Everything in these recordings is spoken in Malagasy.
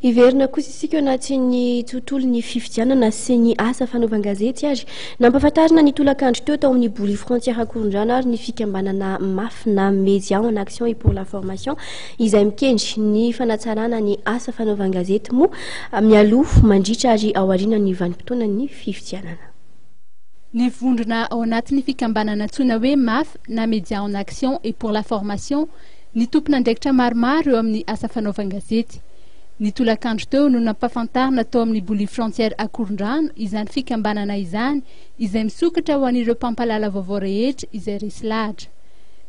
Hiverina kosa isika eo anatin'ny tontolon'ny fifidianana sy ny asa fanaovan-gazety ary nampafantarina ny tolakandro teo tao amin'ny Boly Frontière Ankorondrano ary ny fikambanana mafy na Média en Action et pour la Formation izay mikendry ny fanatsarana ny asa fanaovan-gazety moa mialoha, mandritra ary ao aorianan'ny vanim-potoanan'ny fifidianana. Ny vondrona ao anatin'ny fikambanana antsoina hoe mafy na Média en Action et pour la Formation Ny tompon'andraikitra maromaro eo amin'ny asa fanaovan-gazety. Ny tolakandro teo no nampahafantarina tao amin'ny Boulevy Frontière Akorondrano izany fikambanana izany izay misokatra ho an'ireo mpampahalala vaovao rehetra izay resy lahatra.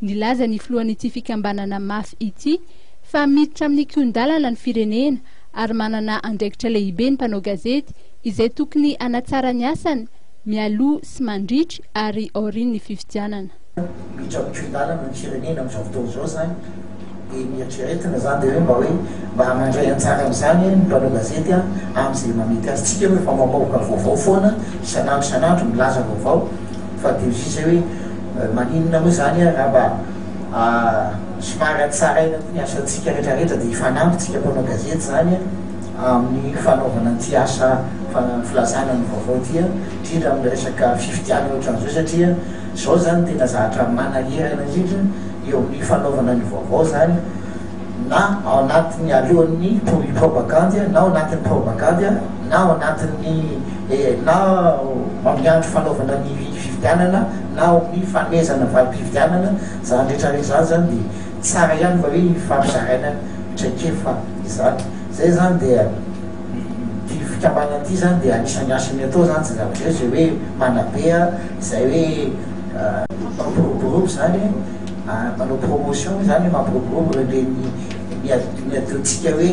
Nilaza ny filohan'ity fikambanana mafy ity fa miditra amin'ny kihon-dalana ny firenena ary manana andraikitra lehibe ny mpanao gazety izay tokony hanatsara ny asany mialoha sy mandritry ary aorian'ny fifidianana. Ny tranon-tsolilàlana ny firenena amin'izao fotoana izao izany dia ny eritreretina izany dia hoe mba hoe mba mandray anjara amin'izany ny mpanao gazety amin'izay mamety azy. Tsy dia hoe vao mamoaka vaovao foana isan'andro isan'andro milaza vaovao fa dia ozizy hoe maninona moa izany raha mba somary hatsaraina koa ny asantsika rehetrarehetra dia hifanampy isika mpanao gazety izany. amin'ny fanaovana ity asa filazana ny vaovao ity, indrindra amin'ny resaka fifidianana ohatran'izao satria izao izany tena zavatra manahirana indrindra eo amin'ny fanaovana ny vaovao izany na ao anatin'ny alohan'ny propagandy na ao anatin'ny propagandy na ao anatin'ny eh, na amin'ny andro fanaovana ny fifidianana na ao amin'ny fanomezana valim-pifidianana izany rehetra rehetra izany dia Tsara ihany va hoe iny fampizaraina traikefa izany? Zay izany dia ity fikambanana ity izany dia anisan'ny asany atao izany tsy zavatra izay hoe manabe izay hoe mampiroborobo izany manao promotion izany mampiroborobo ireo ny adidion-tsika hoe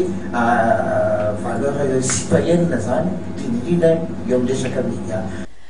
valeur citoyenne izany indrindra indrindra eo amin'ny resaka media.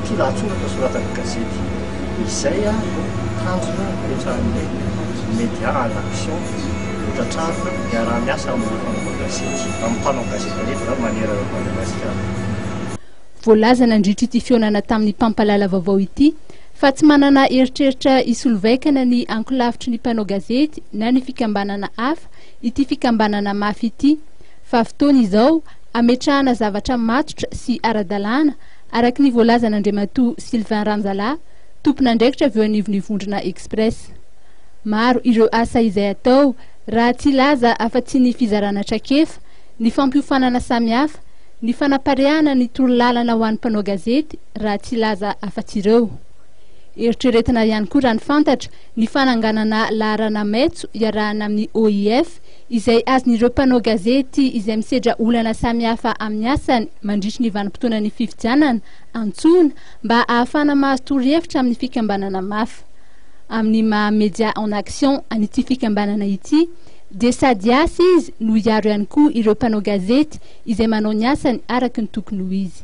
Ity lahatsoratra soratan'ny gazety izay no tanjona ipetrahan'ny Média en Action hotratrarina miaraha-miasa amin'ny mpanao gazety, amin'ny mpanao gazety rehetra izany manerana an'i Madagasikara. Voalaza nandritra ity fihaonana tamin'ny mpampalala vaovao ity fa tsy manana eritreritra hisolo vaikana ny ankolafitry ny mpanao gazety na ny fikambanana hafa ity fikambanana mafy ity fa fotoana izao hametrahana zavatra matotra sy ara-dalàna araka ny voalazan'Andriamatoa Sylvain Ranjalahy, tompon'andraikitra avy eo anivon'ny vondrona Express. Maro ireo asa izay atao raha tsy hilaza afa-tsy ny fizarana traikefa, ny fampiofanana samihafa, ny fanapariahana ny torolalana ho an'ny mpanao gazety raha tsy hilaza afa-tsy ireo. Eritreretina ihany koa raha ny fantatra ny fananganana laharana maitso iarahana amin'ny OIF izay azon'ireo mpanao gazety izay misedra olana samihafa amin'ny asany mandritry ny vanim-potoanan'ny fifidianana antsoina mba ahafahana mahazo torohevitra amin'ny fikambanana mafa. Amin'ny maha Médias en Action an'ity fikambanana ity dia sady asa izy no hiaro ihany koa ireo mpanao gazety izay manao ny asany araka ny tokony ho izy.